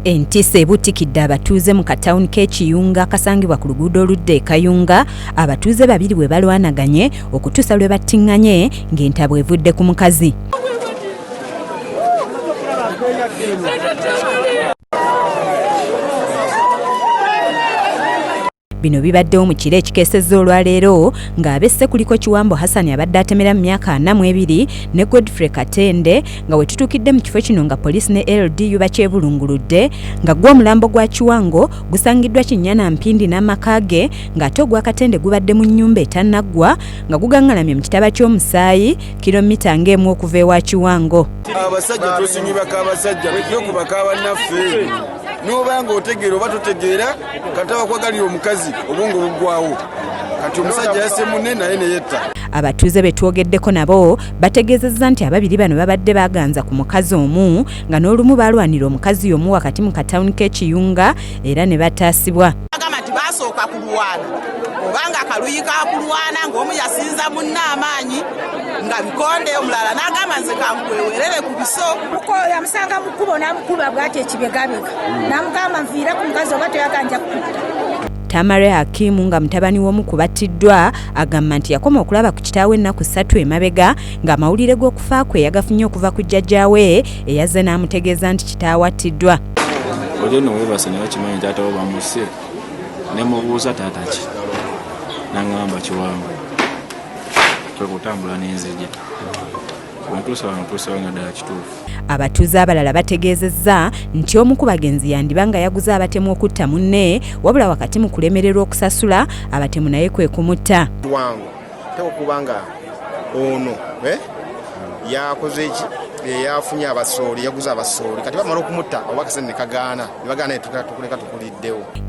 Entisa ebuutikidde abatuuze mu katawuni k'e Kiyunga akasangibwa ku luguudo oludda e Kayunga, abatuuze babiri bwe balwanaganye okutuusa lwe battinganye ng'entabwe evudde ku mukazi. Bino bibaddewo mu kiro ekikeesezza olwaleero ng'abesse kuliko Kiwambo Hassan abadde atemera mu myaka ana mu ebiri ne Godfrey Katende nga wetutuukidde mu kifo kino nga poliisi ne LDU bakyebulunguludde nga gwo omulambo gwa Kiwango gusangiddwa Kinyana Mpindi n'amaka ge ng'ate ogwa Katende gubadde mu nnyumba etannaggwa nga gugangalamye mu kitaba ky'omusaayi kilomita ng'emu okuva ewa Kiwango. Abasajja tusinyibaka abasajja tujje kubaka bannaffe. noba nga otegeera oba totegeera kati abakwagalira omukazi obwongo buggwawo kati omusajja yase munne naye neyetta abatuuze be twogeddeko nabo bategeezezza nti ababiri bano babadde baganza ku mukazi omu nga n'olumu baalwanira omukazi y'omu wakati mu katawuni k'ekiyunga era ne bataasibwa agamba nti baasooka kulwana oba nga akaluyi kakulwana ng'omu yasinza munne amaanyi nga bikonde omulala n'agamba nze kankuwewerere ku biso kuko yamusanga mu kkubo n'amukuba bwati ekibegabega n'amugamba nviire ku mukazi oba toyaganja kukutta tamare hakimu nga mutabani w'omu ku battiddwa agamba nti yakoma okulaba ku kitaawe ennaku ssatu emabega ng'amawulire g'okufa kwe yagafunye okuva ku jjajjaawe eyazze n'amutegeeza nti kitaawe attiddwa oli no webase naye okimanyi taata wo bamuse ne mubuuza taata ki nangamba kiwangu twekutambula nenzija abatuuze abalala bategeezezza nti omu ku bagenzi yandiba nga yaguze abatemu okutta munne wabula wakati mu kulemererwa okusasula abatemu naye kwe kumutta wangu teokuba nga ono eh, yakoze eki eyafunye abasooli yaguze abasooli kati bamala okumutta oba akasente ne kagaana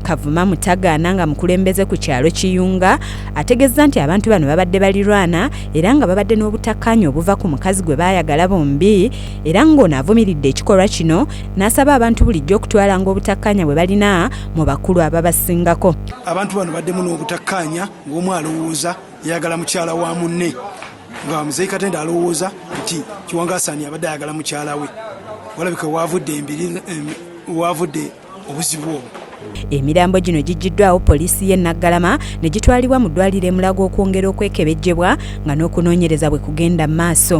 Kavuma Mutagaana nga mukulembeze ku kyalo Kiyunga ategezza nti abantu bano babadde balirwana era nga babadde n'obutakkaanya obuva ku mukazi gwe baayagala bombi era ng'ono avumiridde ekikolwa kino n'asaba abantu bulijjo okutwalanga obutakkaanya bwe balina mu bakulu ababasingako. Abantu bano baddemu n'obutakkaanya ng'omu alowooza yayagala mukyala wa munne nga muzeyi katende alowooza nti kiwangasani abadde ayagala mukyala we walabika wavudde embiri wavudde obuzibu obwo emirambo gino giggyiddwawo poliisi y'e naggalama ne gitwalibwa mu ddwaliro emulaga okwongera okwekebejjebwa nga n'okunoonyereza bwe kugenda mu maaso